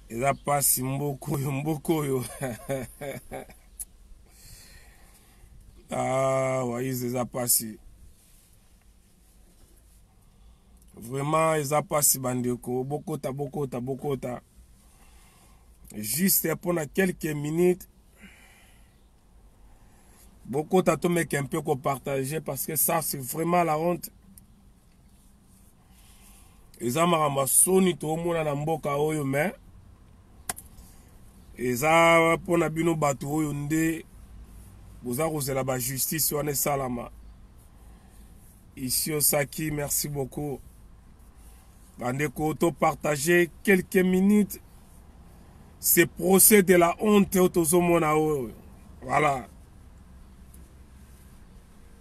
eza mpasi mboka oyo mboka oyo ah, waize eza mpasi vraiment eza mpasi bandeko bokota bokota bokota juste mpona quelques minutes bokota tomeka mpe kopartage parce que ça c'est vraiment la honte eza makambo ya soni toomona na mboka oyo me eza mpo na bino bato oyo nde boza kozela bajustice wana esalama isio saki merci beaucoup bandeko topartage quelques minutes ce procès de la honte oyo tozomona oyo voilà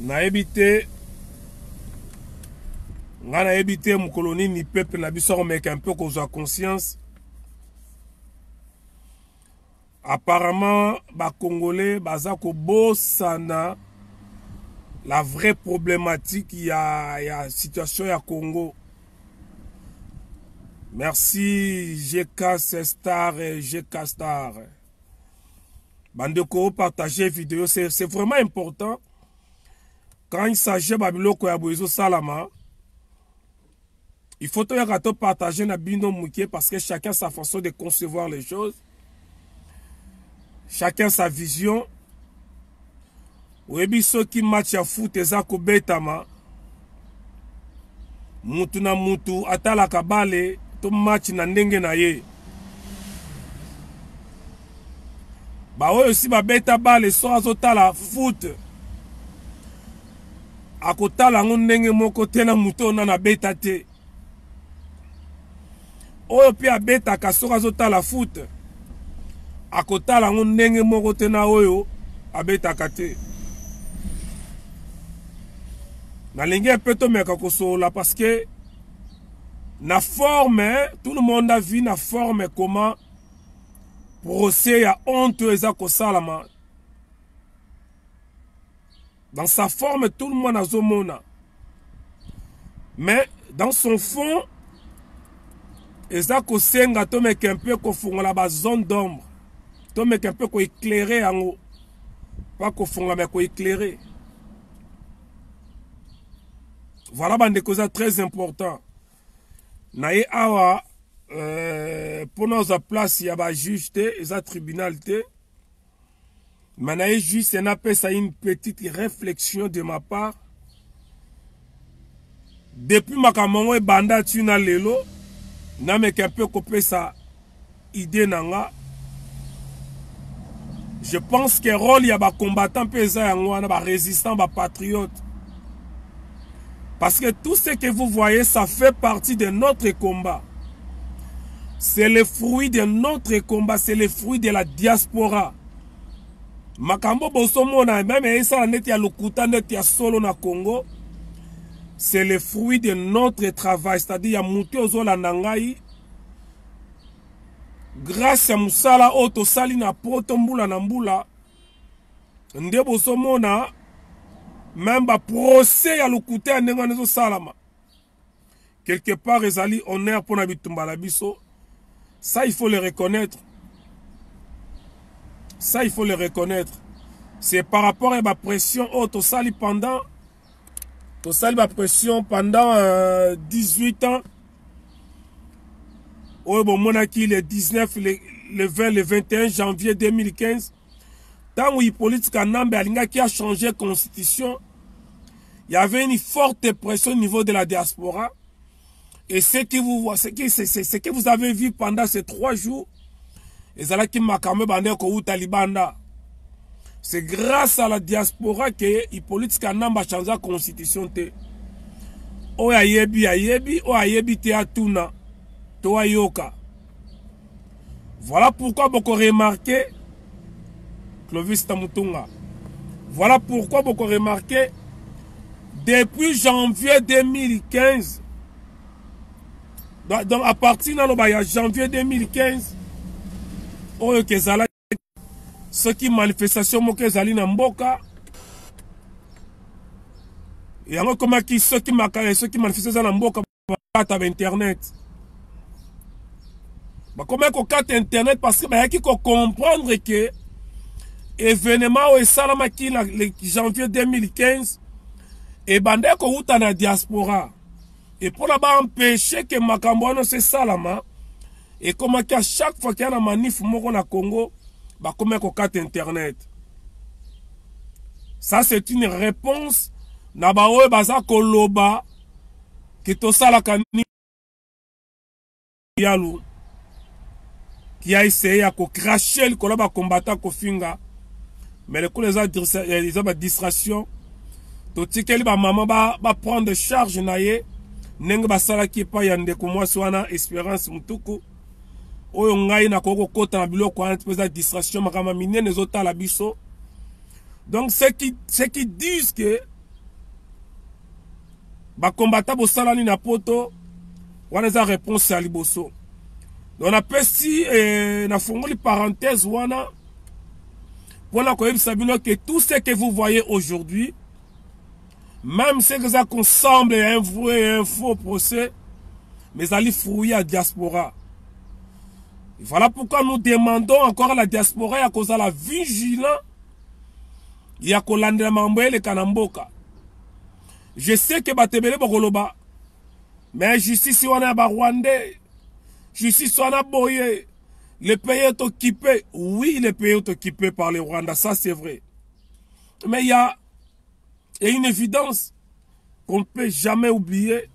nayebi te ngai nayebi te mokolo nini peuple na biso akomeka mpe kozwa conscience apparemment bacongolais baza kobosana la vraie problématique ya, ya situation ya congo merci gk star gk star bandeko partage video c'est vraiment important quand il s'agit babiloko ya boye ezosalama il faut toyaka topartage na bino moke parce que chacun sa façon de concevoir les choses chacun sa vision Oyebi soki match ya foot eza kobetama mutu na mutu atalaka bale to match na ndenge na ye baoyo si babeta bale so azotala foot akotala yango ndenge moko te na moto oyo nana abeta te oyo mpe abetaka soki azotala foot akotala yango ndenge moko te na oyo abetaka te nalingi mpe tomeka kosolola parce que na forme tout le monde a vu na forme comment procès ya honte oyo eza kosalama dans sa forme tout le monde azomona mais dans son fond eza kosenga tomeka mpe kofungola bazone d'ombre tomeka mpe koeclaire yango pa kofungola me koeclaire voilà bandeko eza très important na ye awa euh, mpo na oza place ya bajuge te eza tribunal te Mais naye juste napesa une petite réflexion de ma part. Depuis makambo yango ebanda ti na lelo nameka mpe kopesa idée na nga je pense que rôle ya bacombattant mpe eza yango wana barésistant bapatriote Parce que tout ce que vous voyez, ça fait partie de notre combat. C'est le fruit de notre combat, c'est le fruit de la diaspora. Makambo bosomona, même esala neti ya lokuta neti ya solo na Congo, c'est le fruit de notre travail, c'est-à-dire ya mutu ozolanda ngai grâce ya musala oyo tosali na poto mbula na mbula nde bozomona meme baprocès ya lokuta ya ndenge wana ezosalama quelque part ezali honneur mpo na bitumba na biso ça il faut le reconnaître ça il faut le reconnaître c'est par rapport ya bapression oyo tosali pendant tosali ba pression pendant euh, 18 ans oyo bomonaki le 19 le, le 20 le 21 janvier 2015 ntango hippolyte kanambe alingaki achanger constitution il y avait une forte pression au niveau de la diaspora et ce que vous voyez ce que c'est ce que vous avez vu pendant ces trois jours ezalaki makambo ebanda ekowuta libanda c'est grâce à la diaspora que Hippolyte Kanamba change la constitution te oyo ayebi ayebi oyo ayebi te atuna to ayoka Voilà pourquoi boko remarquer Clovis Tamutunga. Voilà pourquoi boko remarquer depuis janvier 2015 donc à partir naloba ya janvier 2015 oyo kezala soki manifestation moko ezali na mboka yango ekomaki soki makaya soki manifestation eza na mboka bakata ba internet bakomaki kokata internet parce que bayaki kocomprendre ke evenement oyo esalamaki na janvier 2015 ebandaki kowuta na diaspora et mpo na ba empêche ke makambo wana se esalama ekomaki a chaque fois kia na manif moko na congo bakomaki kokata internet ça c'est une réponse na baoyo baza koloba ke tosalaka nini yalo ya essaye ya kocrache likolo ya bakombata kofinga mais lokola eza eh, badistraction totikeli bamama baprendre ba charge na ye ndenge basalaki epai ya ndeko mwasi wana esperance mutuku oyo ngai nakoki kokota na biloko wana mpe eza distraction makambo minene ezotala biso donc ce qui, ce qui disent que ba combattants bosalani na poto wana eza réponse ya liboso donc napesi eh, nafungoli parenthèse wana mpo na koyebisa bino ke tout ce que vous voyez aujourd'hui même ce que eza consemble ya un vrai et un faux procès mais ezali fruit ya diaspora voilà pourquoi nous demandons encore à la diaspora ya kozala vigilant ya kolandela makambo eleka na mboka je sais que bato ebele bakoloba mais justice wana ya barwandais justice wana boye le pays est occupé oui le pays est occupé par le rwanda ça c'est vrai mais il y a, y a une évidence qu'on ne peut jamais oublier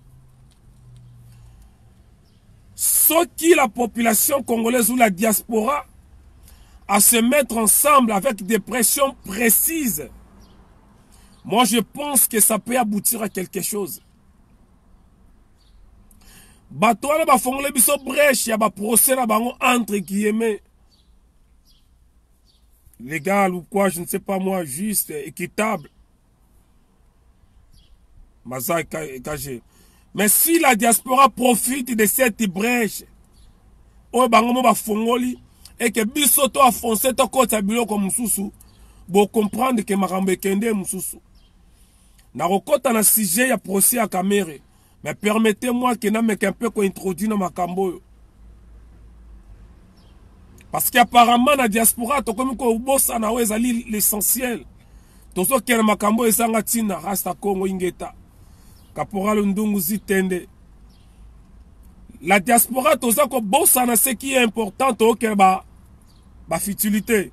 Soki la population congolaise ou la diaspora à se mettre ensemble avec des pressions précises, moi je pense que ça peut aboutir à quelque chose. bato wana bafongole biso breche ya baprocès na bango entre guillemets légal ou quoi je ne sais pas moi juste équitable baza cache mais si la diaspora profite de cette brèche oyo bango mo bafongoli eke biso to afonse tokotisa biloko mosusu bocomprendre ke makambo ekende mosusu nakokɔta na sujet ya procès ya kamere Mais permettez-moi que na meka un peu ko introduire na makambo oyo. Parce qu'apparemment na diaspora tokomi ko bossa na oyo ezali l'essentiel. Tozo kena makambo ezanga tina rasta Congo ingeta. Caporal Ndungu Zitende. La diaspora toza ko bossa na ce qui est important to kena ba ba futilité.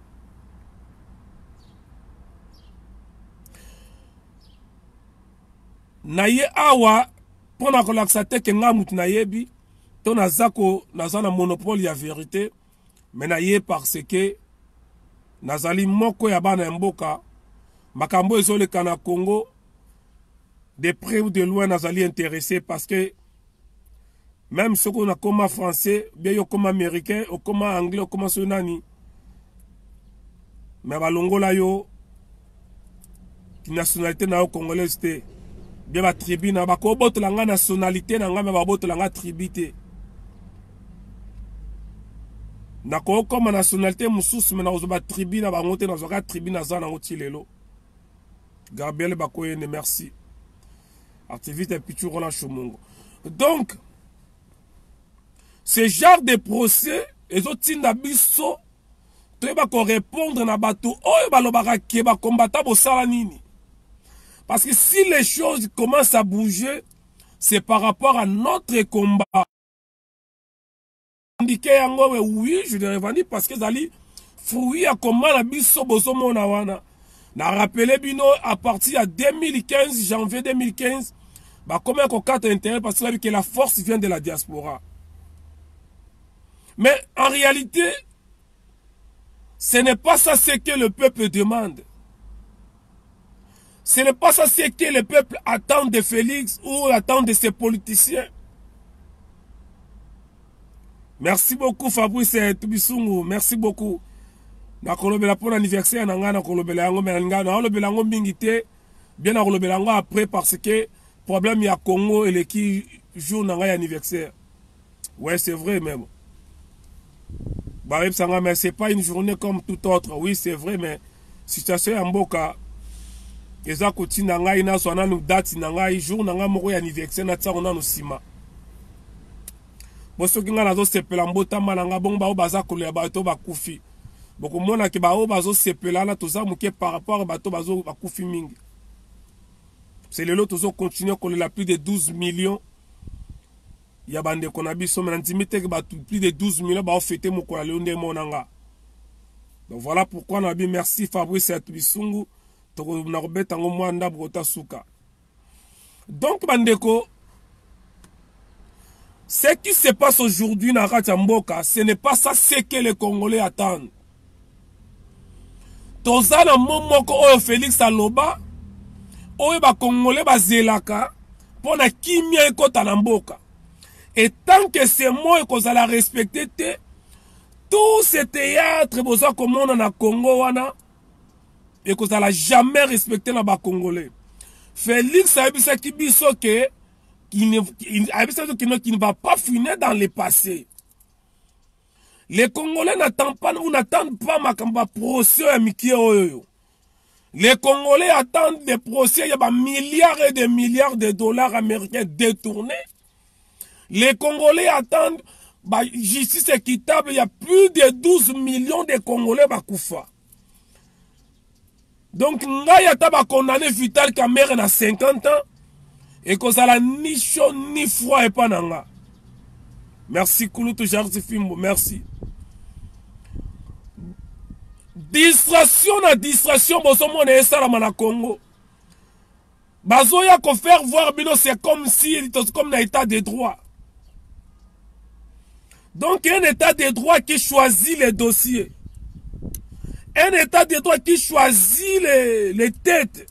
naye awa mpo na kolakisa te ke ngai motu nayebi to naza ko naza na monopole ya verite me naye parce que nazali moko ya bana ya mboka makambo ezoleka na congo de près ou de loin nazali interesse parce que meme soki onakoma français bia yo okoma américain okoma anglais okoma soki nani me balongola yo nationalité na yo congolaise te bia batribu na bakobotola ngai nationalité na ngai me babotola ngai tribu te nakokoma nationalité mosusu me nakozwa batribu na bango te nazwaka tribu naza nango ti lelo gabriel bakoyende merci activiste ya pichuro na shomongo donc ce genre de procès ezotinda biso toyeba korépondre na bato oyo balobaka ke bakombata bosala nini parce que si les choses commencent à bouger c'est par rapport à notre combat revendiquer yango we oui je le revendique parce que ezali fruit ya koma na biso bozomona wana na rappele bino à partir ya 2015 janvier 2015 bakoma ya kokata intérêt parce que que la force vient de la diaspora mais en réalité Ce n'est pas ça ce que le peuple demande. Ce n'est pas ça ce que le peuple attend de Félix ou attend de ses politiciens. Merci beaucoup Fabrice Tubisungu, merci beaucoup. nakolobela mpo na anniversaire na ngai nakolobela yango me nalinga naolobela yango mingi te bie nakolobela yango après parce que problème ya congo eleki jour na ngai ya anniversaire Ouais, c'est vrai même. Bah, mais c'est pas une journée comme toute autre. Oui, c'est vrai, mais situation en boka eza kotinda ngai nazwa nanu date na ngai jour na ngai moko ya anniversaire natiango nanu nsima bo soki ngai nazosepela mbotama na ngai bongo baoyo baza kolela bato bakufi bokomona ke baoyo bazosepela wana toza moke par rapport bato bakufi mingi se lelo tozokontinue kolela plus de 12 millions ya bandeko na biso me nandimi te ke bato plus de 12 millions baofete mokolo ya lelo nde emona nga donc voilà pourquoi nabi merci fabrice ya bisungu tokona kobeta yango mwa ndambo kota suka donc bandeko ce qui se passe aujourd'hui na kati ya mboka ce n'est pas ça ce que les congolais attendent toza na mo moko oyo felix aloba oyo bakongole bazelaka mpo na kimia ekota na mboka etant que ce mot ekozala respecte te tout ce théâtre boza komona na congo wana ekozala jamais respecte na bacongolais felix ayebisaki biso ke ayebisaki kino qui ne va pas finir dans le passé Les Congolais n'attendent pas, ou n'attendent pas makamba procès ya mikie oyo. Les Congolais attendent des procès ya ba milliards et des milliards de dollars américains détournés. Les Congolais attendent ba justice équitable ya plus de 12 millions de Congolais bakufa. donc ngai ata bakondane vital kamere na 50 ans ekozala ni chaud ni froid epa na nga merci kulutu jardi fimbo merci distraction na distraction bozomona esalama na congo bazoya ko faire voir bino c'est comme si tosi comme na état de droit donc un état de droit qui choisit les dossiers un état de droit qui choisit les, les têtes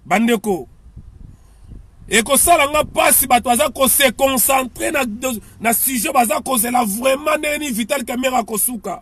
bandeko ekosala nga mpasi bato baza kose concentre na, na sujet baza kozela vraiment ndenge nini vital camera akosuka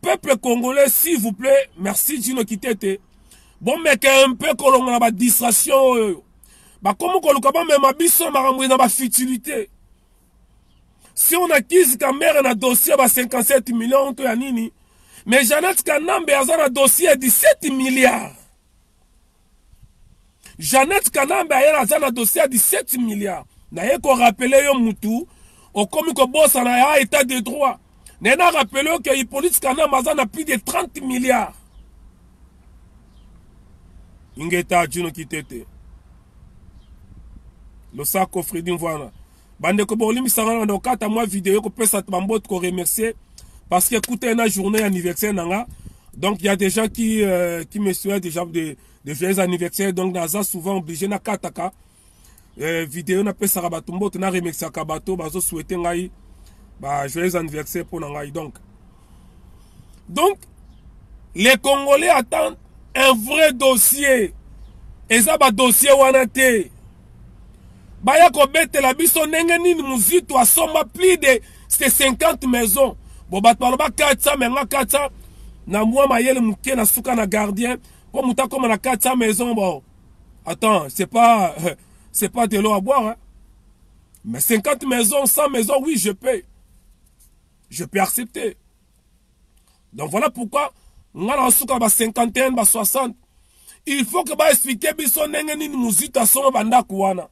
peuple congolais s'il vous plaît merci jino kitete bomeka mpe kolongola badistraction oyo bakomi koluka bamema biso makambo na bafutilité si on accuse kamere na dossier ya ba 57 million to ya nini mais janete kanambe aza na dossier ya 17 milliard Jeannette Kanambe ayela aza na dossier ya 17 milliards naye ko rappeler yo mutu okomi kobosana ya etat de droit naye na rappeler yo ke Hippolyte Kanambe aza na plus de 30 milliards ingeta juno kitete losako fredi mvwana bandeko bolimbisa nga na okata mwa video kopesa bambote ko remercier parce que kuta ena journée ya anniversaire na nga donc il y a des gens qui euh, qui me souhaitent déjà de de joyeux anniversaire donc naza souvent obligé na kataka euh, video na pesaka bato mbote na remerciaka bato bazo souhaiter ngai ba joyeux anniversaire mpo na ngai donc donc les congolais attendent un vrai dossier eza badossier wana te baya kobetela biso ndenge nini muzito asomba plus de se 50 maison bo bato baloba 400 me nga 400 na mwa mayele moke na suka na gardien mpo moto akoma na 400 maison bo attends c'est pas c'est pas de l'eau à boire hein? mais 50 maison 100 maison oui je paye je peux accepter donc voilà pourquoi nga na suka ba 51 ba 60 il faut que baexplike biso ndenge nini mozito asomba bandako wana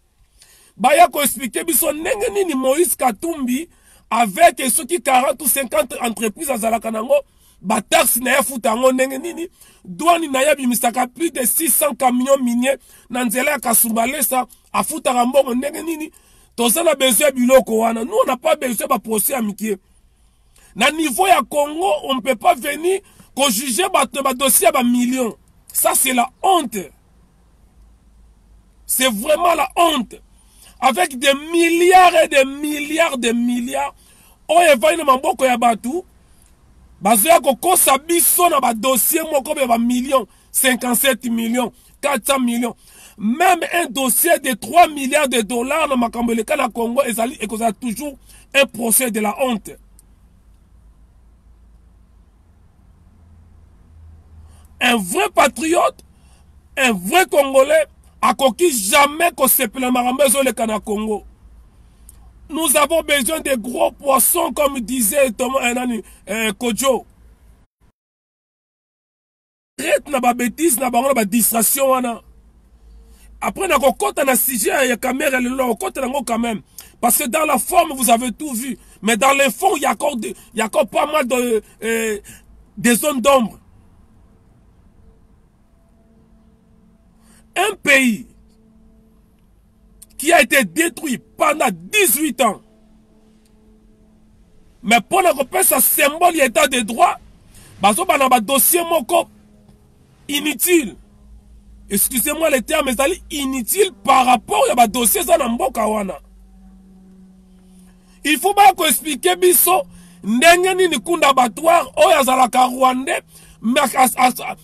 baya koexplike biso ndenge nini moïse katumbi avec soki 40 ou 50 entreprise azalaka nango bataxe na ye afuta yango ndenge nini dwani na ye abimisaka plus de 600 camion minier na nzela ya kasumbalesa afutaka mbongo ndenge nini toza na besoin ya biloko wana nous on a pas besoin ya baprocès ya mikie na niveau ya congo on ne peut pas venir kojuge bato na badossier ya bamillion ça c'est la honte c'est vraiment la honte avec des milliards et des milliards de milliards oyo evandi na maboko ya bato bazoya kokosa biso na badossier moko ya bamillion 57 millions 400 millions même un dossier de 3 milliards de dollars na makambo eleka na congo ezali ekozala toujours un procès de la honte un vrai patriote un vrai congolais akoki jamais kosepela makambo ezoleka na congo nous avons besoin de gros poissons comme disait Thomas, eh, nani, eh, Kojo traite na ba betise na bango na ba distraction wana après na kokota na sujet ya kamere lelo na kokota nango quand même parce que dans la forme vous avez tout vu mais dans le fond il y a encore, de, il y a encore pas mal de, euh, des zones d'ombre un pays qui a été détruit pendant 18 ans mais mpo na kopesa symbole ya état de droit bazoba na badossier moko inutile excusez-moi le terme ezali inutile par rapport ya badossier eza na mboka wana il faut baya koexplike biso ndenge nini kunda batoire oyo azalaka rwandais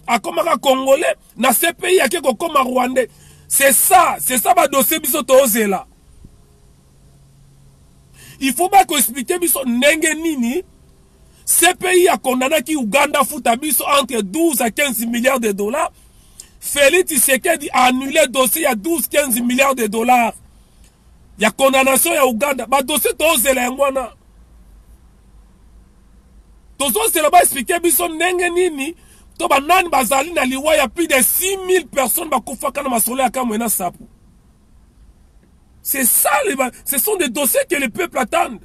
akomaka congolais na CPI ake kokoma rwandais c'est ça c'est ça badossier biso tozela il faut bakoexplike biso ndenge nini CPI a condamné qui Ouganda fout à entre 12 à 15 milliards de dollars. Félix Tshisekedi a annulé le dossier à 12-15 milliards de dollars. Il y a condamnation à Ouganda. Bah, dossier, tozozela ba explike biso ndenge nini to banani bazali na liwa ya plus de 6000 personnes bakufaka na masolo ya kamwe na sapu c'est ça les, ce sont des dossiers que le peuple attendent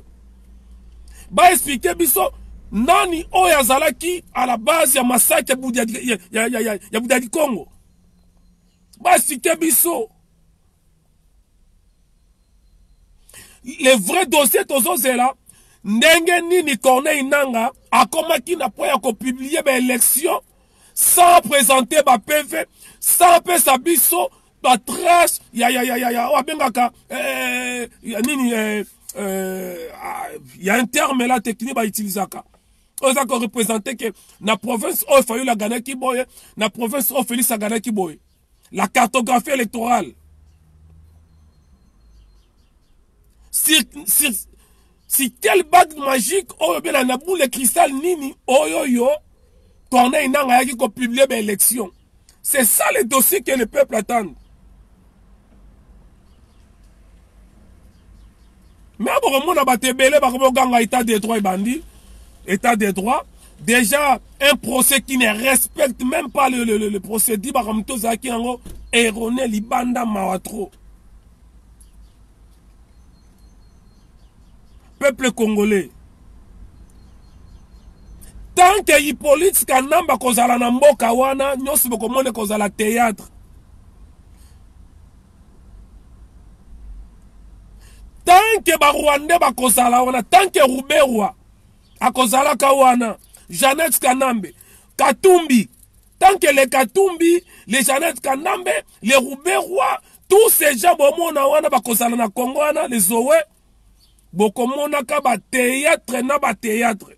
ba explike biso nani oyo azalaki à la base ya masaki ya buda ya, ya, ya, ya, ya buda dikongo ba explike biso le vrai dossier tozozela ndenge nini corneille nanga akomaki na mpo ya kopublie baélection sans présente bapv sans pesa biso batrace ya, ya, ya, ya, ya oyo abengaka eh, ya nini eh, eh, ah, ya un terme la technique bautilisaka oyo eza korepresente ke na province oyo fayulu aganaki boye na province oyo félix aganaki boye La cartographie électorale. Sur, sur, sur quelle bague magique oyo bela na boule cristal nini oyo yo Corneille Nanga yaki ko publier ba élection. C'est ça le dossier que le peuple attend. Mais bokomona bato ebele bakoboganga etat de droit ebandi état de droit déjà un procès qui ne respecte même pas le, le, le, le procédure makambo tozalaki yango erone libanda mawa trop peuple congolais tant que hippolyte kanamba kozala na mboka wana nyonso bokomona ekozala théâtre tant que ba rwandais bakozala wana tant que ruberwa akozalaka wana jeannette kanambe katumbi tant que le katumbi le jeannette kanambe le ruberwa tous ces gens bomona wana bakozala na kongo wana les owe bokomonaka bateatre na bateatre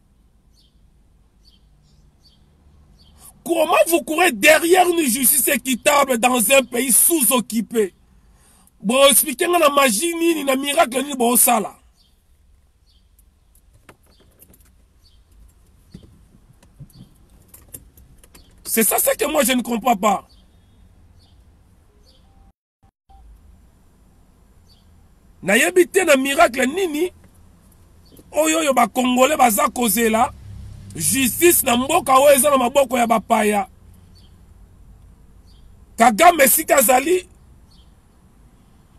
Comment vous courez derrière une justice équitable dans un pays sous-occupé boexplike nga na magie nini na miracle nini bosala c'est ça ce que moi je ne comprends pas nayebi te na miracle nini oyo oyo bakongole baza kozela justice na mboka oyo eza na maboko ya bapaya kagame esika azali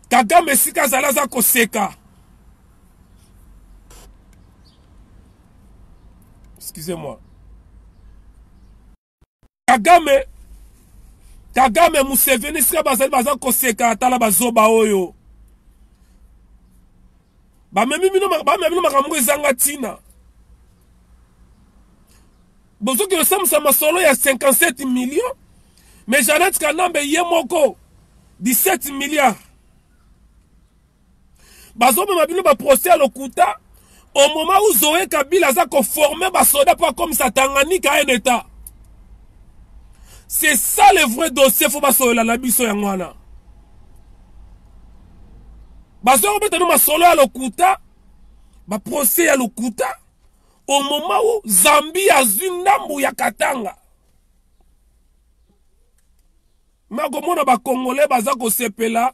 kagame esika azali aza koseka excusez-moi kagame kagame museveni sika bazali baza koseka tala bazoba oyo bamemi bino makambo moko ezanga ntina bozoki kosambisa masolo ya 57 million mais janete kanambe ye moko 17 milliard bazomema bino ba procès ya lokuta au moment où zoe kabila aza koforme basoda mpo akomisa tanganyika un état c'est ça le vrai dossier fo basolola na biso yango wana bazoya kobeta no masolo ya lokuta baprocès ya lokuta au moment où zambie azwi ndambu ya katanga makomona bakongole baza kosepela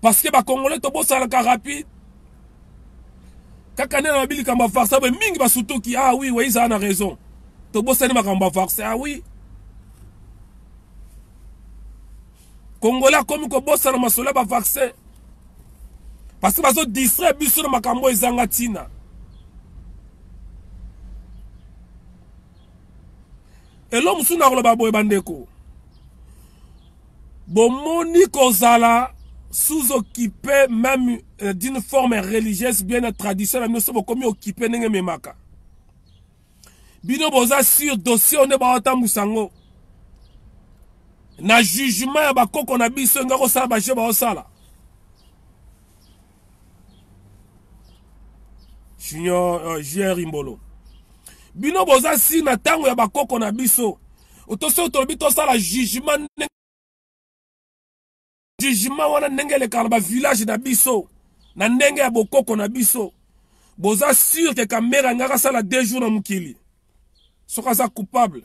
parce que ba congolais tobosalaka rapide kaka nde na babi likambo ya varse boye mingi basutuki ah oui wei zala na raison tobosani makambo ya varse ah oui congolais akomi kobosana masolo ya bavaccin parce que bazo distraire biso na makambo oyo ezanga ntina elo mosusu nakoloba boye bandeko bomoni kozala sous occupé même euh, d'une forme religieuse bien na tradition na bino so bokomi occupé ndenge ememaka bino boza sur dossier oyo nde baotambwisa yango na jugement ya bakoko na biso enga kosala bajeu baosala junior uh, jr imbolo bino boza si na ntango ya bakoko na biso otoso tolobi tosala jugement jugement wana ndenge elekaka na bavillage na biso na ndenge ya bokoko na biso boza sur ke kamera ngaka asala deux jours na mokili soki aza coupable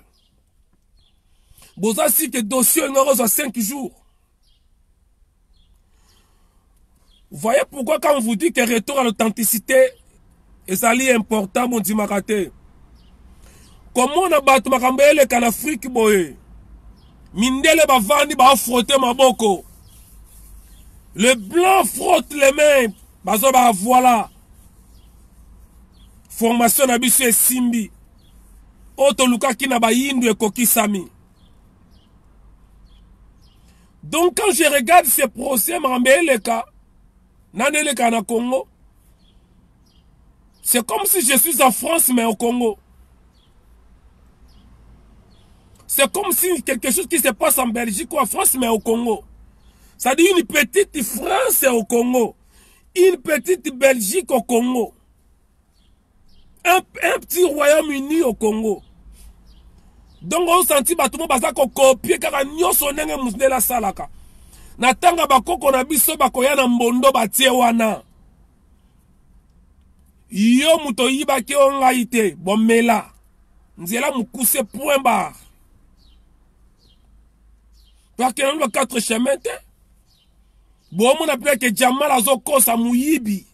boza si ke dossier olinga kozwa 5 jours voyez pourquoi quand on vous dit que retour à l'authenticité ezali important bondimaka te komona bato makambo eleka na afrike boye mindele bavandi baafrote maboko le blanc frotte les mains bazo ba voilà formation na biso esimbi oyo tolukaki na bayindo ekokisami donc quand je regarde ce procès makambo eleka nani eleka na congo c'est comme si je suis en france mais au congo C'est comme si quelque chose qui se passe en Belgique ou en France, mais au Congo. Ça dit une petite France au Congo. Une petite Belgique au Congo. Un, un petit Royaume-Uni au Congo. Donc, on sentit bato mo baza ko copier kaka nyoso ndenge mundele asalaka. Na tanga bakoko na biso bakoya na mbondo batie wana. yo moto oyibaki o ngai te bomela nzela mokuse point bar bakenda nba quatre chemin te bomona mpe ke jamal azokosa moyibi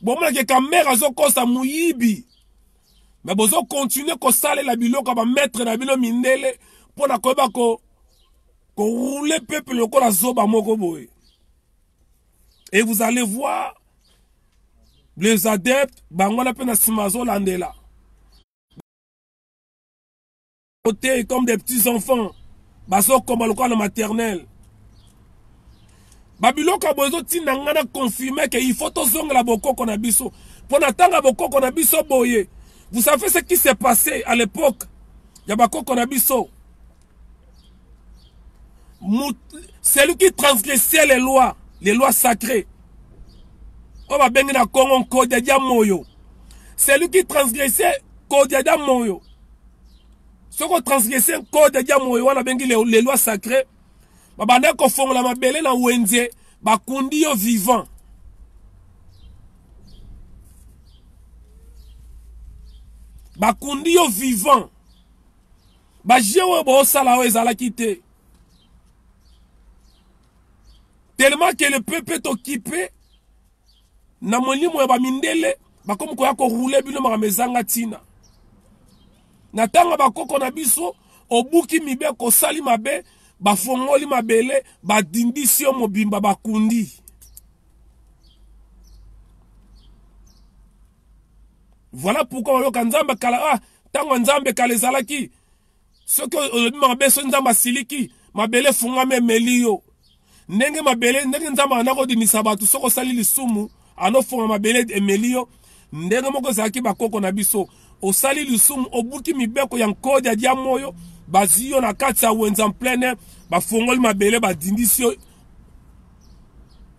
bomona ke kamere azokosa moyibi me bozokontinue kosalela biloko ya bamaitre na bino mindele mpo na koyeba ko korule peuple lokola zoba moko boye et vous allez voir les adeptes bango wana mpe na nsima azolandela te comme des petits enfants bazokoma lokola na maternelle babiloko ya boye ezotinda ngai na confirme ke il faut tozongela bokoko na biso mpo na ntango ya bokoko na biso boye vous savez ce qui s'est passé à l'époque ya bakoko na biso celui qui transgressait les lois les lois sacrées oyo babengi na congo nkodia dia moyo celui qui transgressait nkodia dia moyo soki otransgresse nkodia dia moyo wana babengi les lois sacrées babandaki kofongola mabele na wenze bakundi yo vivant bakundi yo vivant ba jeu oyo bosala oyo ezalaki te tellement que le peuple est occupé na molimo ya bamindele bakomi koya korule bino makambo ezanga ntina na ntango ya bakoko na biso obuki mibeko osali mabe bafongoli mabele badindisi yo mobimba bakundi Voilà pourquoi oyoka nzambe kala ah tango ya nzambe kala ezalaki soki olobi mabe soki nzambe asiliki mabele efungwami emeli yo ndenge mabele ndenge nzambe anda kodimisa bato soki osali lisumu anofunga mabele emeli yo ndenge moko ezalaki bakoko na biso osali lisumu obuki mibeko ya nkodi ya diamo oyo bazwi yo na kati ya wenza pleine bafongoli mabele badindisi yo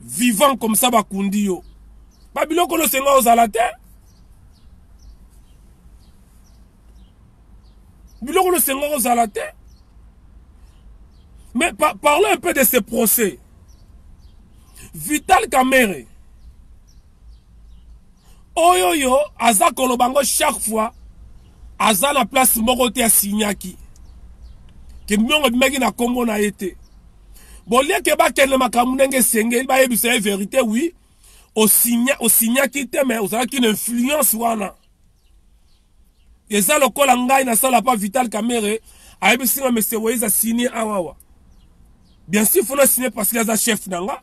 vivant comme ça bakundi yo babiloko nosenga ozala te biloko nosenga ozala te mais pa parlons un peu de ce procès vital kamere oyo yo aza koloba ngo chaque fois aza na place moko te asignaki ke mbiongo ebimaki na nkombo na ye te bolieke bakende makambo ndenge esengeli bayebisa ye verité wi osignaki te me ozalaki na influence wana eza lokola ngai nasala pa vital kamere ayebisi nga mese weyeza signe awawa bien sûr fona signe parce que aza chef na nga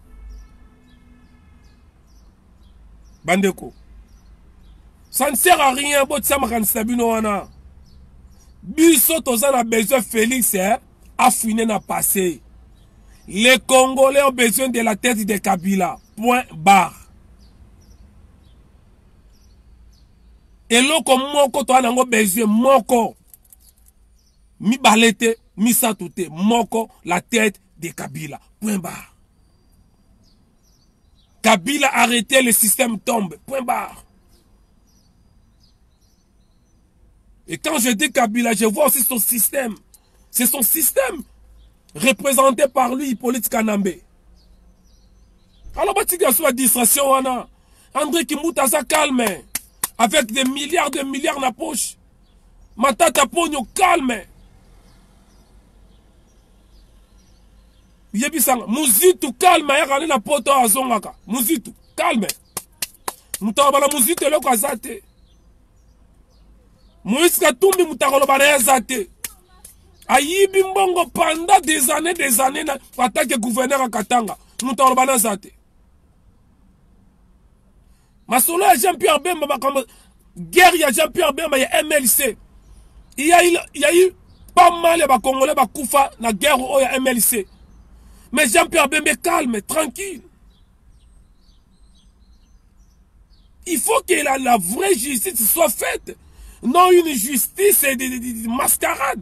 bandeko ça ne sert à rien botisa makanisi na bino wana biso toza na besoin félix eh, afine na passé les congolais ont besoin de la tête de kabila point barre eloko moko toza nango besoin moko mibale te misato te moko la tête de kabila point barre kabila arrêter le système tombe point barre et quand je dis kabila je vois aussi son système c'est son système représenté par lui hippolyte kanambe alors batika sur la distraction wana andré kimbuta aza calme avec des milliards de milliards na poche Matata Ponyo calme. Yebisanga Muzitu calme ayaka na poto azongaka. Muzitu calme. Mutabala Muzitu eloko azate. Moïse Katumbi mutakoloba na azate. Ayibi mbongo pendant des années des années na attaque gouverneur à Katanga. Mutakoloba na azate. masolo ya jean pierre bemba makambo guerre ya jean pierre bemba ya mlc yayi pas mal ya bacongolais bakufa na guerre oyo ya mlc mais jean pierre bembe calme tranquille il faut que la, la vraie justice soit faite non une justice de, de, de, de mascarade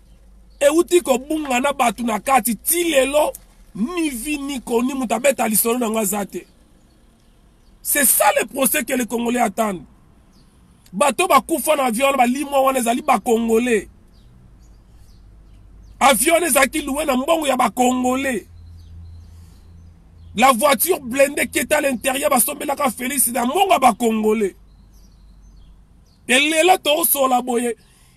euti kobunga na bato na kati ti lelo ni vi ni koni moto abeta lisolo na yango aza te c'est ça le procès que le congolais attendent bato bakufa na avion wana balimwa wana ezali bakongole avion wana ezalaki luwe na mbongo ya bakongole la voiture blende keta à l'intérieur basombelaka félix na mbongo ya bakongole elelo tosola boye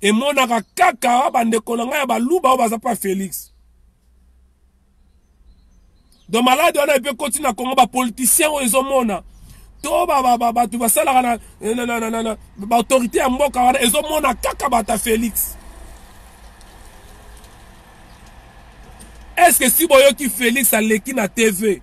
emonaka kaka bandeko na ngai ya baluba oyo baza mpa félix do maladi wana epe ekoti na kongo bapoliticien oyo ezomona to bato basalaka na eh, baautorité ya mboka wana ezomona kaka bata félix estce que si boyoki félix aleki na tv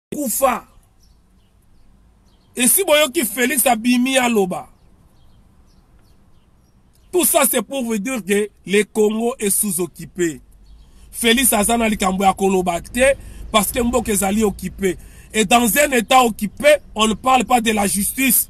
kufa esi boyoki Felix abimi aloba tout ça c'est pour vous dire que le Congo est sous-occupé Felix aza na likambo ya koloba te parce que mboka ezali occupé et dans un état occupé on ne parle pas de la justice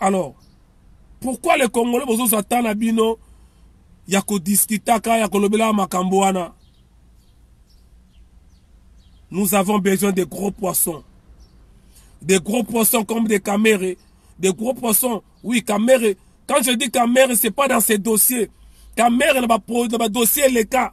alors pourquoi les congolais bozozwa temps na bino ya kodiskitaka ya kolobelaka makambo wana nous avons besoin de gros poissons des gros poissons comme des Kamere, des gros poissons. Oui, Kamere, quand je dis Kamere, c'est pas dans ces dossiers. Kamere, dans ma, dans ma dossier, les cas.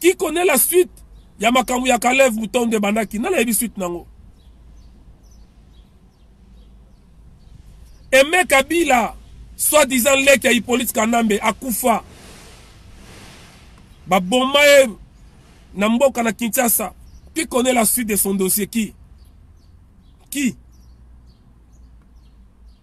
qui connaît la suite ya makambo ya kalev mutondo ebandaki nani ayebi suite nango eme kabila soit disant leki ya hippolyte kanambe akufa baboma ye na mboka na kinshasa qui connaît la suite de son dossier qui qui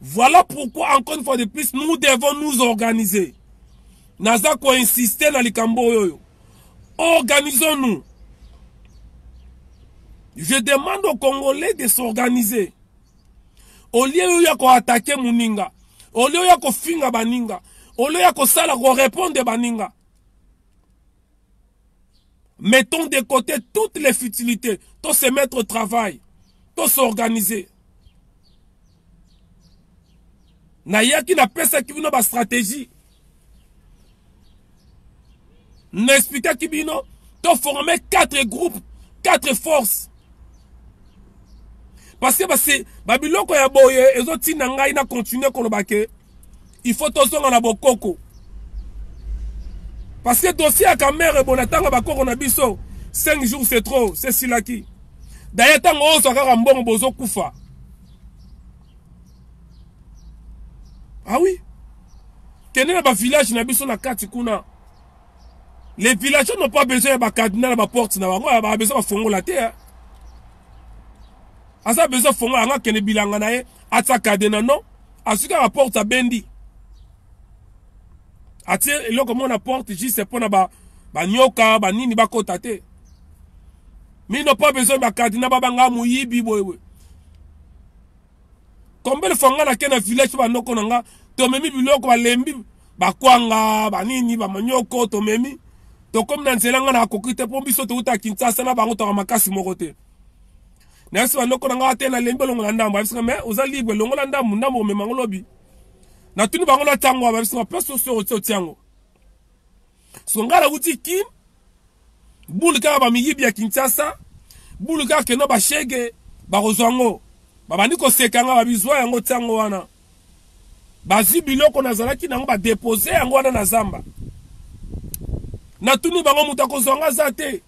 Voilà pourquoi, encore une fois de plus, nous devons nous organiser. Naza ko insister na likambo oyo. Organisons-nous. Je demande aux Congolais de s'organiser. Au lieu ya ko attaquer muninga, au lieu ya ko finga baninga, au lieu ya ko sala ko répondre baninga. Mettons de côté toutes les futilités. Tout se mettre au travail. Tout s'organiser. nayaki napesaki bino bastratégie naexplikaki bino toforme 4 groupe 4 force parce que basi babiloko ya boye ezotinda ngai na continue koloba ke il faut tozonga na bokoko parce que dossier ya kamere bona ntango bakoko na biso 5 jours c'est trop c'est silaki daye ntango ozwa kaka mbongo bozokufa ah oui kende na bavillage na biso na kati kuna Les villageois n'ont pas besoin ya ba cadenas na ba portes na bango, ba besoin bafongola te. Hein. Aza besoin fongola anga kende bilanga na ye, atsa cadena non, asuka ba porte abendi. Atie eloko moko na porte juste mpo na ba banyoka banini bakota te. Mais ils n'ont pas besoin ba cadena ba banga moyibi boye boye. Combien de fois nga na kena village ba noko na nga, tomemi biloko balembi bakwanga banini bamanioko tomemi tokomi na nzela ngai nakoki te mpo biso touta kinsasa na bango toka makasi moko te nayebisi bandoko na ngai te nalembi olongola ndambo ayebisika me oza libre longola ndambo ndambo omema yango lobi natuni bango na ntango abayebisika mpe sosi otiango so ngai nauti kin Boule kaka ba miyibi ya Kinshasa, boule kaka keno ba shege bakozwa ngo. Babandi koseka nga babizwa yango tiango wana. Bazwi biloko nazalaki nango ba depose yango wana na zamba. Natuni bango moto akozwa nga za te.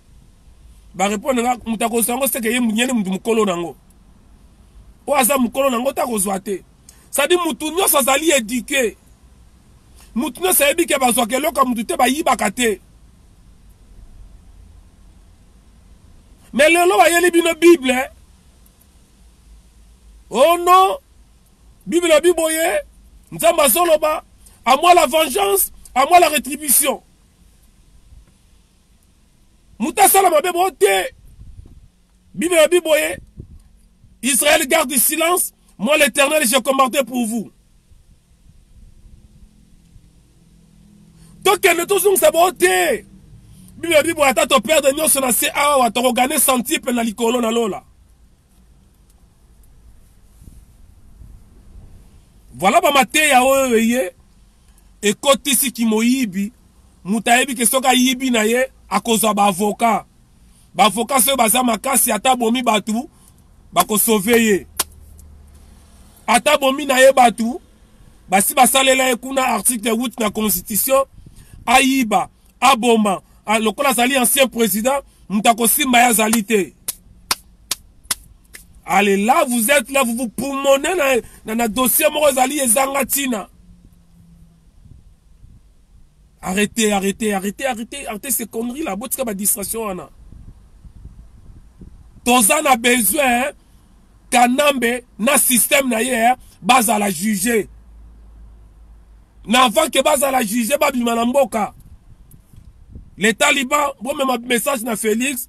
Ba répondre nga moto akozwa yango seke ye munyene mutu mukolo nango. Oyo aza mukolo nango ta kozwa te. Sadi mutu nyoso azali eduque. Mutu nyoso ayebi ke bazwaka eloko ya mutu te bayibaka te. Mais lelo bayeli bino Bible. Oh non, Bible lobi boye, Nzambe azoloba, à moi la vengeance, à moi la rétribution. Mutu asala mabe bo te. Bible lobi boye, Israël garde silence, Moi l'Eternel je combattais pour vous. tokende tozongisa bango te bible bible ata toperde nyonso na se awa tokogane santiple na likolo na lola voilà bamateya oyo eye ekotisi kimoyibi moto ayebi ke soki ayibi na ye akozwa baavoka bavoka soki baza makasi ata bomi bato bakosove ye ata bomi na ye bato basi basalela ye kuna article 8 na constitution ayiba aboma ah, lokola azali ancien président moto akosimba ye azali te allez là vous êtes là vous vous pulmonez na, na, na dossier moko ezali ezanga ntina Arrete, arrete, arrete, arrete, arrete ces conneries là. Botika ba distraction wana. Toza na besoin hein? Kanambe na système na ye hein? bazala juger. Na avant que bazala juger babima na mboka. Les talibans bomema message na Felix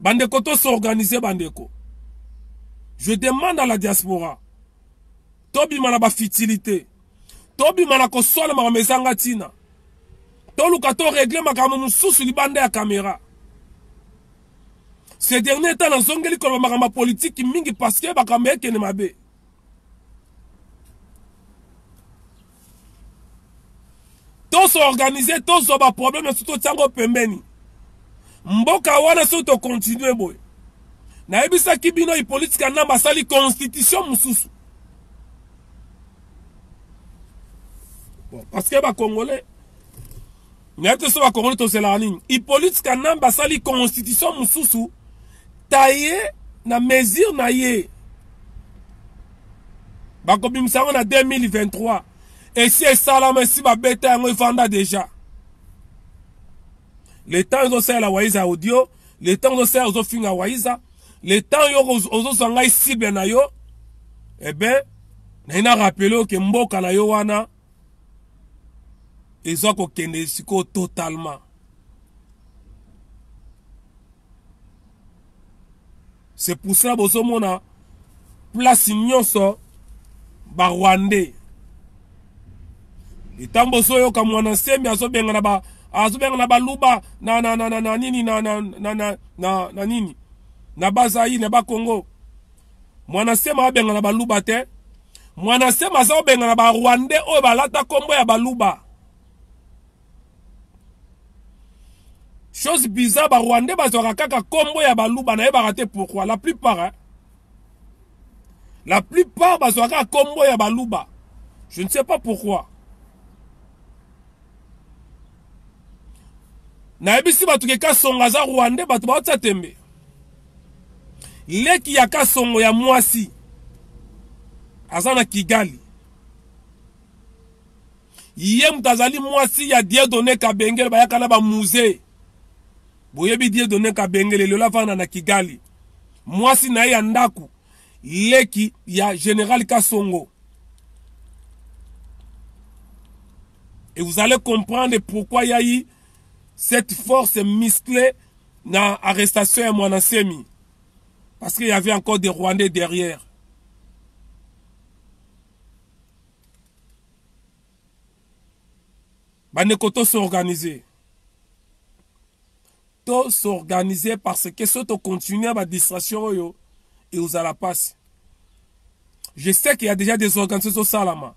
bandeko to s'organiser bandeko je demande à la diaspora tobima na bafitilité tobima na koswana makambo ezanga ntina toluka toregle makambo mosusu libanda ya kamera ce dernier temps nazongeli koloba makambo ya politiki mingi parceke makambo ekende mabe tosorganize tozwa baproblème esu totya yango pembeni mboka wana soki tokontinue boye nayebisaki bino ipolitike ya namba asali constitution mosusu bon, parce que bacongolais Nayebi te soki bakongole tozelaka nini. Hippolyte Kanambe asali constitution mosusu taille na mesure na ye bakobimisa yango na 2023 esi esalama esi babeta yango efanda deja le temps ezosalela waiza ya audio le temps ozosalela ozofinga waiza le temps yo ozozwa ngai cible na yo ebe eh naina rapele oke mboka na yo wana eza kokende sikoyo totalement c'est pour ça bozomona place nyonso barwandais ntango bozoyoka mwana nsembe azobengana ba azobengana baluba na, na, na, na, na nini na, na, na, na, na, na nini na bazaire na bakongo mwana nsema abengana baluba te Mwana sema aza obengana ba rwandais oyo balata kombo ya baluba. Chose bizarre ba rwandais bazwaka kaka kombo ya baluba nayebaka te pourquoi la plupart hein? La plupart bazwaka kombo ya baluba. Je ne sais pas pourquoi. nayebisi bato ke kasongo aza rwande bato baotia tembe leki ya kasongo ya mwasi aza na kigali ye moto azali mwasi ya diedone kabengele bayaka na bamusee boyebi diedone kabengele lelo afanda na kigali mwasi na ye ya ndako leki ya general kasongo et vous allez comprendre pourquoi yai cette force musclée na arrestation ya mwana semi parce qu'il y avait encore des rwandais derrière bandeko tosorganize To s'organiser parce que soki to continuer ba distraction oyo ekozala pasi. Je sais qu'il y a déjà des organisations ezo salama.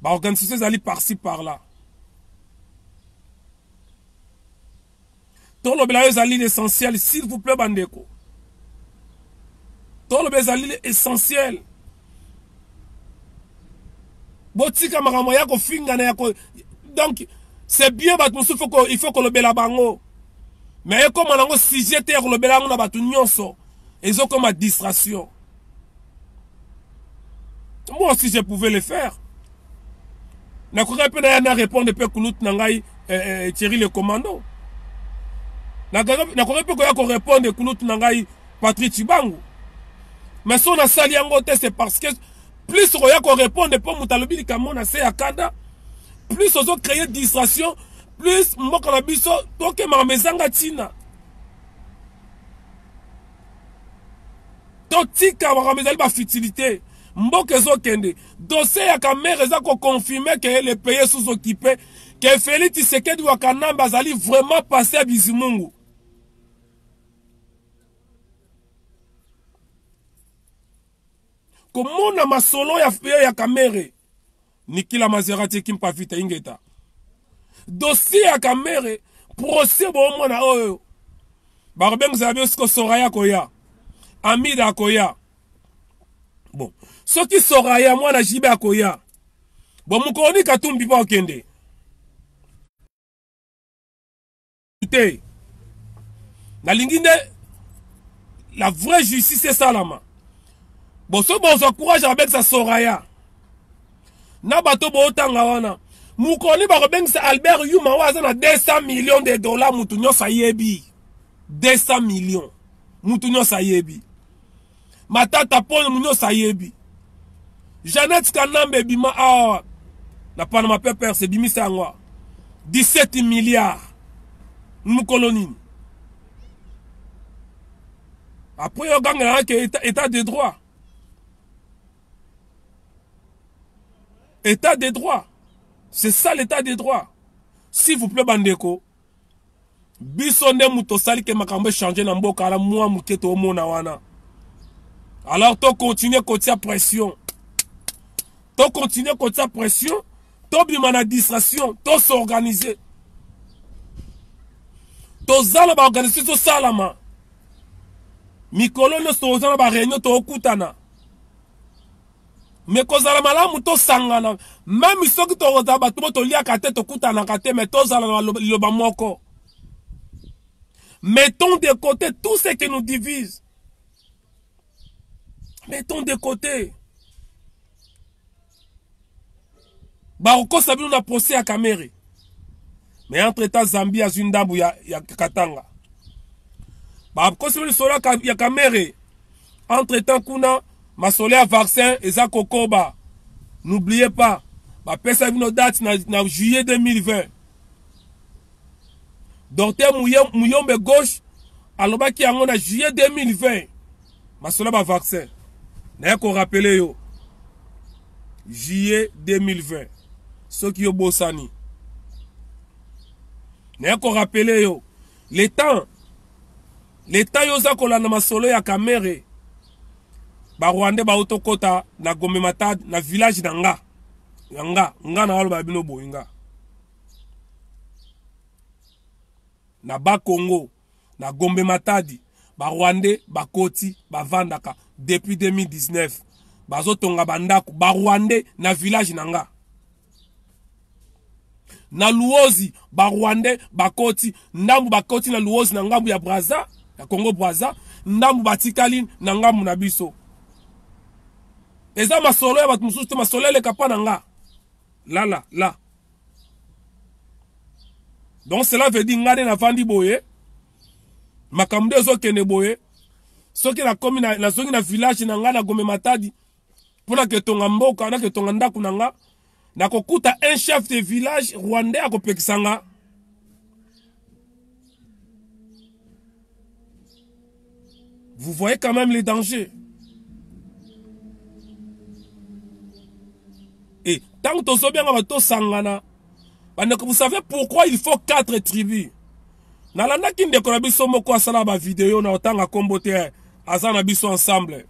Ba organisations ezali par-ci par-là. tolobela yo ezali l'essentiel s'il vous plaît bandeko tolobela ezali essentiel botika makambo ya kofingana ya ko donc c'est bien bato mosusu foko il faut kolobela bango mais ekoma nango sujet te ya kolobela yango na bato nyonso ezokoma distraction moi aussi je pouvais le faire nakokaki mpe naya na répondre mpe kulute na ngai eh, eh, thierry le commando nakokaki mpe koya korépondre kulute na ngai patrik cibangu mais so nasali yango te c'est parce que plus okoya korépondre mpo moto alobi likambo na se ya kanda plus ozo créer distraction plus mboka na biso tokemaka ma ezanga ntina totika makambo ezali bafutilité mboka ezokende Dossier ya Kamerhe eza ko confirmer que le pays est sous-occupé, que Felix Tshisekedi wa Kanambe azali vraiment passé à Bizimungu. komona masolo ya feo ya kamere nikila mazerati ekimpa vita ingeta dossier ya kamere procès boomona oyo bakobengisa na biso siko soraya koya amida akoya bon soki soraya mwana jibe akoya bon mokolo nini katumbi mpo akende te nalingi nde la vraie justice esalama bon soki bozwa courage abebisa soraya na bato bootanga wana mokoni bakobengisa albert yuma oyo aza na 200 million de dollar moto nyonso ayebi 200 million moto nyonso ayebi matata pole munyoso ayebi jeannette kanambe ebima awa na panama papers ebimisa yango awa 17 milliard mokolo nini apres ogangelaka ke état, état de droit état de droit c'est ça l'état de droit s'il vous plaît bandeko biso nde moto osali ke makambo echange na mboka ala mwa moke toomona wana alors tocontinue kotia pression tocontinue kotia pression tobima na distraction tosorganize toza na baorganisation tosalama mikolo nyonso toza na bareunion tookutana me kozala malamu tosangana meme soki tokozala bato bo toliaka te tokutanaka te me tozala na liloba moko mettons de côté tout ce qui nous divise mettons de côté bakokosa bino na procès ya kamere mais entre temps zambie azwi ndambu ya, ya katanga bakosi bino lisolo ya kamere entre temps kuna masolo ya vaccin eza kokoba n'oubliez pas bapesa bino date na, na juillet 2020 docteur muyombe gauche alobaki yango na juillet 2020 Masola ba vaccin. Naye ko rappeler yo. Juillet 2020. Soki yo bosani. Naye ko rappeler yo. Le temps. Le temps yo za kolanda masolo ya Kamere. Ba Rwandais ba otokota na Gombe Matad na village na nga. Ya nga. Nga na aloba bino boinga. na bas congo Na Gombe Matadi ba rwandais bakoti bavandaka depuis 2019 bazotonga bandaku ba rwandais na village na nga na luozi ba rwandais bakoti ndambu bakoti na luozi na ngambu ya braza ya congo braza ndambu batikali na ngambu na biso eza masolo ya bato mosusu te masolo eleka mpa na nga lala la, la. donc cela veut dire ngai nde navandi boye makambo nde ezokende boye soki nakomi nazongi na village na ngai na gome matadi mpo naketonga mboka naketonga ndako na ngai nakokuta un chef de village rwandais akopekisa ngai Vous voyez quand même les dangers. Et tant que tozo bien bato sangana, bandeko vous savez pourquoi il faut quatre tribus. Nalandaki ndeko na biso moko asala ba vidéo na otanga kombo te aza na biso ensemble.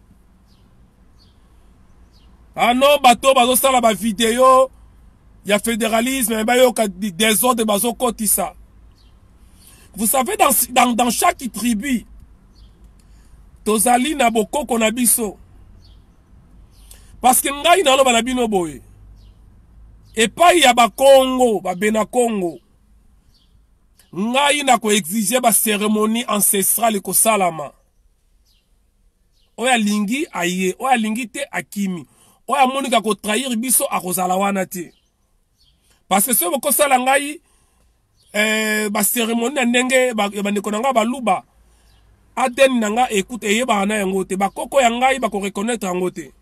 Ah non, bato bazosala ba video ya fédéralisme mais bayoka désordre bazokotisa. Vous savez dans, dans, dans chaque tribu tozali na bokoko na biso. Parce que ngai naloba na bino boye. Epai ya bakongo, babena kongo. Ngai na ko exiger ba cérémonie ancestrale kosalama. oyo alingi aye oyo alingi te akimi oyo amonika kotrahir biso akozala wana te parce que soki bokosala ngai eh, baceremonie na ndenge bandeko na ngai baluba adn na ngai ekuta eyebaka na yango te bakoko ya ngai bakoreconnaitre yango te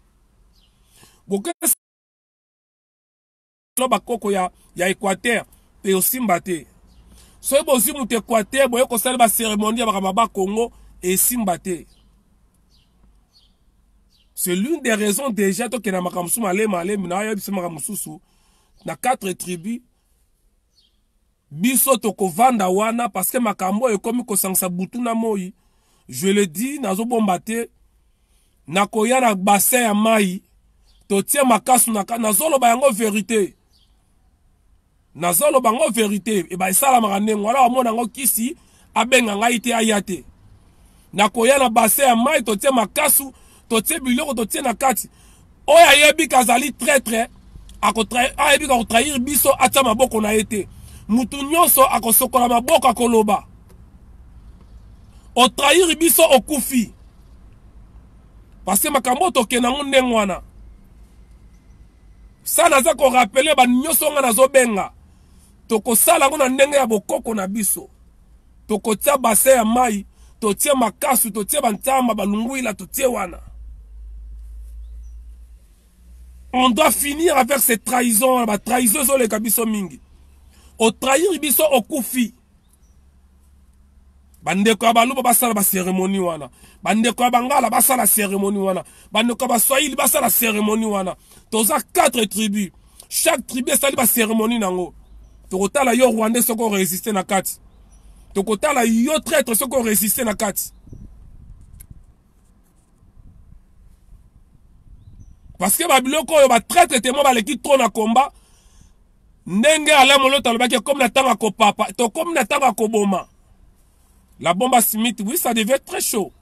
bino bakoko ya, ya equateur mpe osimba te soki bozwi moto equateur boye kosala baceremonie ya makambo ya bakongo esimba te c'est l'une des raisons déjà tokenda makambo mosusu malema alemi na ayebisa makambo mosusu na quatre tribus Biso toko vanda wana parce que makambo oyo ekomi kosangisa butu na moyi. Je le dis nazo bomba te. Nakoya na bassin ya mayi. Totie makasu na ka nazo loba yango verite. Nazo loba yango verite. Eba esalamaka ndenge wana omona yango kisi abenga ngai te aya te nakoya na base ya mai totie makasu totie biloko totie na kati oyo ayebi kazali traitre ayebi kotrahir biso atya maboko na ye te motu nyonso akosokola maboko akoloba otrahir biso okufi parce makambo oyo tokenda yango ndenge wana sa naza korapele banyonso ngai nazobenga Tokosala yango na ndenge ya bokoko na biso. Tokotia bassin ya mayi, totie makasu, totie ba ntamba, ba lunguila, totie wana. On doit finir avec ces trahisons, ba trahisons ezoleka biso mingi. Otrahir biso okufi. bandeko ya baluba basala baseremoni wana bandeko ya bangala basala seremoni wana bandeko ya baswahili basala seremoni wana toza 4 tribu chaque tribu esali baseremoni na yango tokotala yo rwandais soki oresiste na kati tokotala yo traitre soki oresiste na kati parce que babiloko oyo batraitre temo baleki trop na combat ndenge Alain Moloto alobaki ekomi na ntango ya kopapa tokomi na ntango ya koboma la bomba smith oui ça devait être très chaud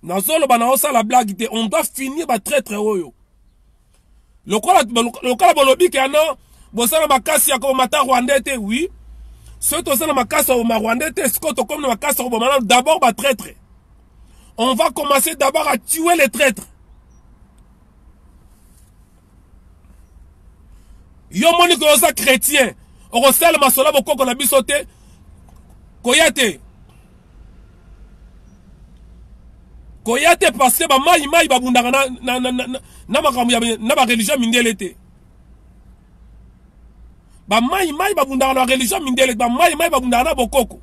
nazoloba na osala blague te on doit finir batraitre oyo lokola lokola bolobi ke ano bosala makasi ya koboma ta rwandais te oui soki toza na makasi ya koboma rwandais te sikoyo tokomi na makasi ya koboma nano d'abord batraitre on va commencer d'abord à tuer les traitres yo moni koyo oza chrétien okosala masolo bokoko na biso te koya te koya te parce que bamayi mayi babundaka na, na, na, na, na makambo ya na bareligion mindele te ba mai mai babundaka na religion mindele ba mai mai babundaka na bokoko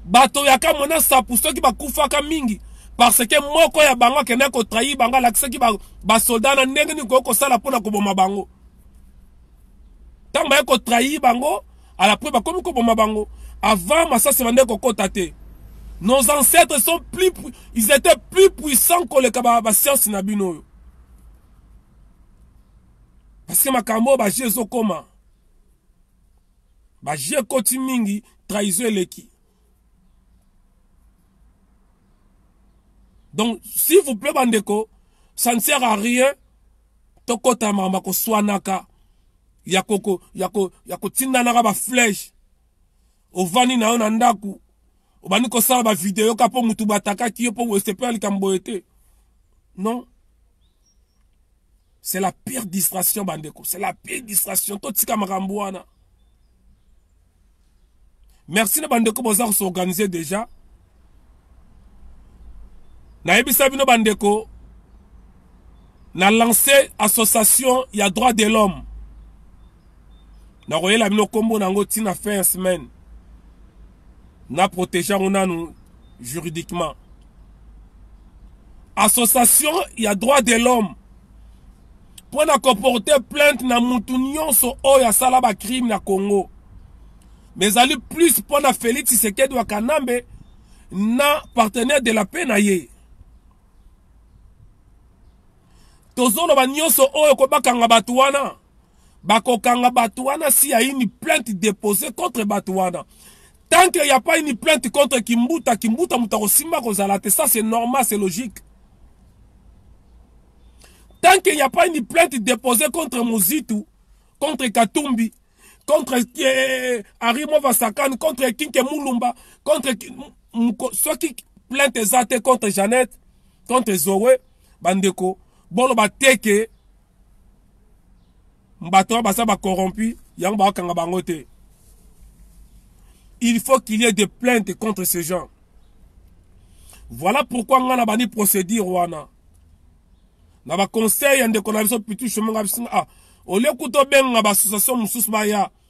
bato ya kamwe na sapu soki bakufaka mingi parce que moko ya bango akendaki kotrahi bango alakisaki basoldat na ndenge nini koki kosala mpo na koboma bango ntango baye kotrahi bango alapres bakomi koboma bango avant masasi bande kokota te nos ancêtres sont plus ils étaient plus puissants koleka basiance na bino oyo parce que makambo oyo baje ezokoma baje ekoti mingi trahison eleki donc s'il vous plaît bandeko ça ne sert à rien tokota mama koswanaka ya koko ya ko ya kotindanaka baflèche ovandi na yo na ndako obandi kosala bavideo ka mpo motu batakaki yo mpo osepela likambo boye te non c'est la pire distraction bandeko c'est la pire distraction totika makambo wana merci na bandeko boza kosorganize déjà nayebisa bino bandeko na lance association ya droit de l'homme nakoyela bino nkombo na yango ntina fin ya semaine na protege yango nanu juridiquement association ya droit de l'homme mpo na koporte plainte na mutu nyonso oyo asala bacrime na congo me ezali plus mpo na félix tshisekedi wa kanambe na partenaire de la paix na ye tozoloba nyonso oyo kobakanga bato wana bakokanga bato wana si ya une plainte depose contre bato wana tant que ya pas une plainte contre kimbuta kimbuta moto akosimba kozala te ça c'est normal c'est logique tant que ya pas une plainte depose contre mozitu contre katumbi contre eh, arimo vasakan contre kinke mulumba contre soki plainte eza te contre jeannette contre zoe bandeko boloba te ke bato wana baza bacorrompu yango bakokanga bango te il faut qu'il y ait des plaintes contre ces gens voilà pourquoi ngai nabandi procédure wana na baconseil ya ndeko na biso pitu chemonga bisinga ah olie kuta obenga baassociation mosusu baya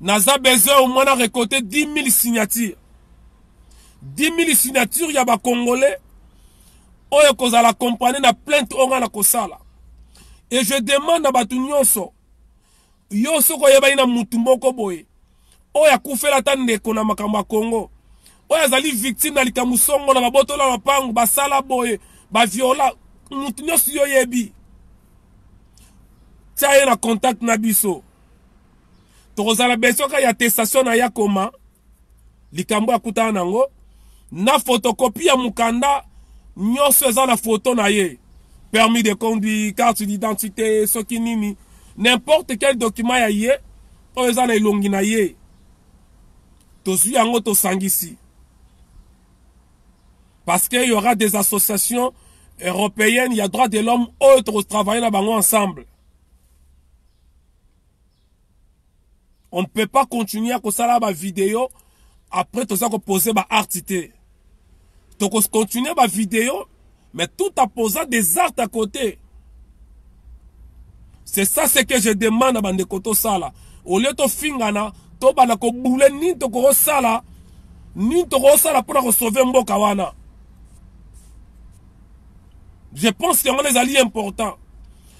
naza besoin au moins na recoter 10000 signature 10000 signature ya bacongolais oyo ekozala accompagne na plainte oyo ngai nakosala et je demande na bato nyonso yo soki oyebani na motu moko boye oyo akufela ata ndeko na makambo ya congo oyo azali victime na likambo songo na babotola mapango basala boye baviola motu nyonso yo oyebi tia ye na contact na biso tokozala besoin kaka ya attestation na yakoma likambo akutana nango na photocopie ya mokanda nyonso eza na foto na ye permis de conduire carte d'identité soki nini n'importe quel document ya ye oyo eza na elongi na ye tozwi yango tosangisi parce que y aura des associations européennes ya droit de l'homme oyo tokotravaille na bango ensemble on peut pas continuer ya kosala bavideo après toza kopose baarte te tokocontinue bavideo mais tout en posant des artes à côté c'est ça ce que je demande na bandeko tosala au lieu tofingana tobanda kobule nini tokosala nini tokosala mpona kosauve mboka wana je pense yango wana ezali important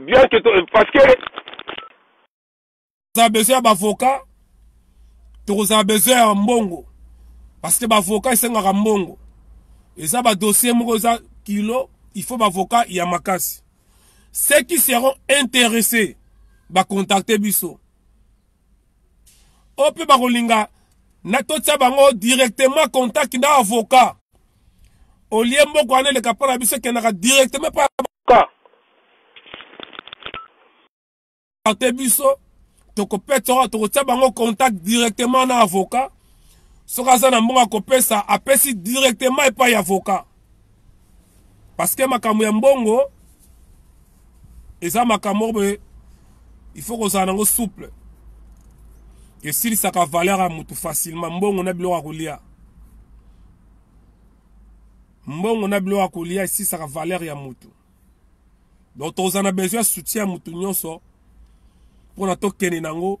bien que to, parce que tokozala besoin ya bavoka tokozala besoin ya mbongo parce que bavoka esengaka mbongo eza badossier moko eza kilo il faut bavoka ya makasi ceux qui seront intéressés bacontacte biso oyo mpe bakolinga na totya bango directement contact na avocat olie mboka wana eleka mpo na biso ekendaka directement pa te biso tokopesa tokotya bango contact directement na avocat soki aza na mbongo akopesa apesi directement epai ya avocat parce que makambo ya mbongo eza makambo moko boye il faut kozala nango souple esilisaka valeur ya motu facilement mbongo na biloko ya kolia mbongo na biloko ya kolia esilisaka valeur ya motu donc tozala na besoin ya soutien ya motu nyonso mpo na tokende nango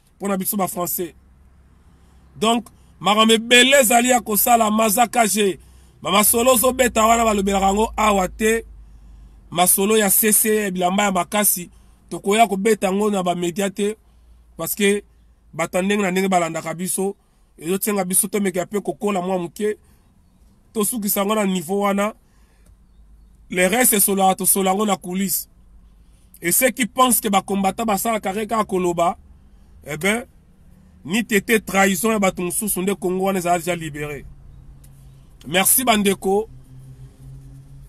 mpo na biso bafrançais donc makambo ebele ezali ya kosala mazakaje bamasolo ozobeta wana balobelaka yango awa te masolo ya sese ya bilamba ya makasi tokoya kobeta yango na bamedia te parce que bato ya ndenge na ndenge balandaka biso ezosenga biso tomeka mpe kokola mwa moke tosukisa yango na niveau wana le reste esolaka tosola yango na coulisse et ceux qui pensent que bacombatant basalaka kake kaka koloba eh ben ni tete trahison ya bato mosusu nde kongo wana ezala deja libere merci bandeko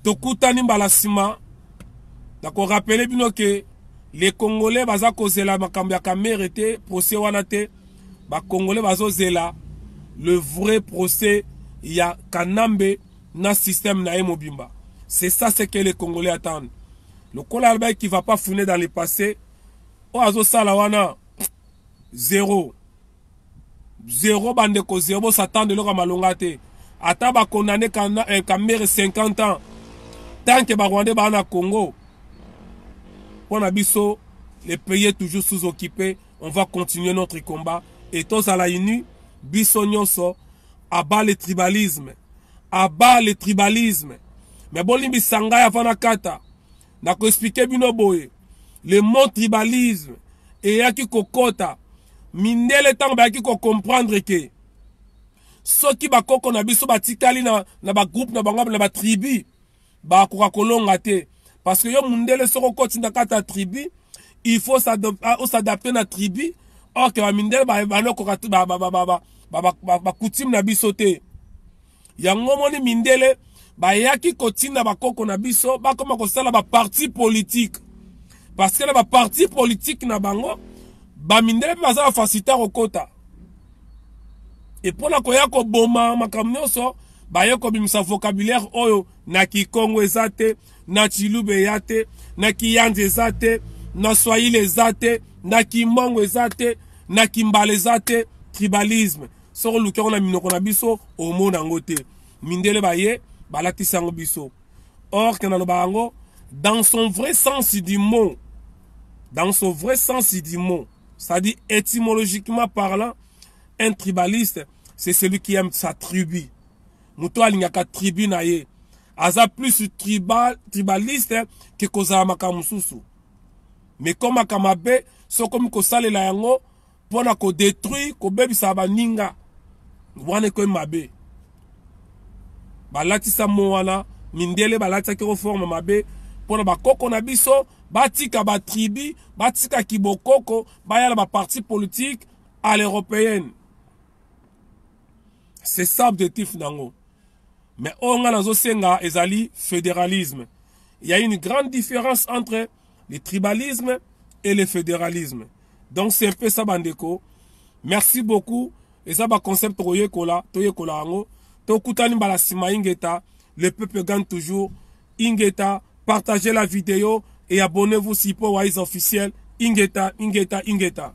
tokutani mbala nsima nakorapele bino ke le congolais baza kozela makambo ya kamere te procès wana te ba congolais bazozela le vrai procès ya kanambe na système na ye mobimba c'est ça ce que les congolais attendent lokola alobaki qui va pas fouiner dans le passé oyo azosala wana zero zero bandeko zero bosatande eloko ya malonga te ata bakondane eh, kamere 50 ans tanke barwandais baa na congo mpo na biso le pays est toujours sous occupé on va continuer notre combat et tozala unis biso nyonso aba le tribalisme aba le tribalisme me bolimbisa ngai avant nakata nakoexplike bino boye le mot tribalisme eyaki kokota mindele ntango bayaki kocomprendre ke soki bakoko na biso batikali na, na bagroupe na bango na batribu bakoka kolonga te parce que yo mundele soko okoti na kati ya tribu il faut ah, osadapte na tribu ok bamindele banokoka bakutime na biso te yango omoni mindele bayaki kotinda bakoko na biso bakoma kosala baparti politike parce que na baparti politike na bango bamindele mpe baza bafasita kokota epo na koya koboma makambo nyonso baye kobimisa vocabulaire oyo na kikongo eza te na chilube ya te na kiyanzi eza te na swahili eza te na kimbongo eza te na kimbala eza te tribalisme soki oluki yango na minoko na biso omona yango te mindele baye balatisi yango biso or ke naloba yango dans son vrai sens du mot dans son vrai sens du mot c'est-à-dire étymologiquement parlant un tribaliste c'est celui qui aime sa tribu moto alingaka tribu na ye aza plus tribal, tribaliste ke kozala makambo mosusu me ekomaka mabe so okomi kosalela yango mpo na kodetruire kobebisa baninga wana ekomi mabe balatisa mo wana mindele balatisaki yango forme mabe mpo na bakoko na biso batika batribi batika kibokoko baya na baparti politike à l'européenne c'est ça objectif nango mais oyo ngai nazosenga ezali fédéralisme il y a une grande différence entre le tribalisme et le fédéralisme donc c'est un peu ça bandeko merci beaucoup eza baconcept tokoyekola toyekola yango tokutani mbala nsima ingeta le peuple gagne toujours Ingeta partagez la video et abonnez-vous Sipo Wise officiel Ingeta Ingeta Ingeta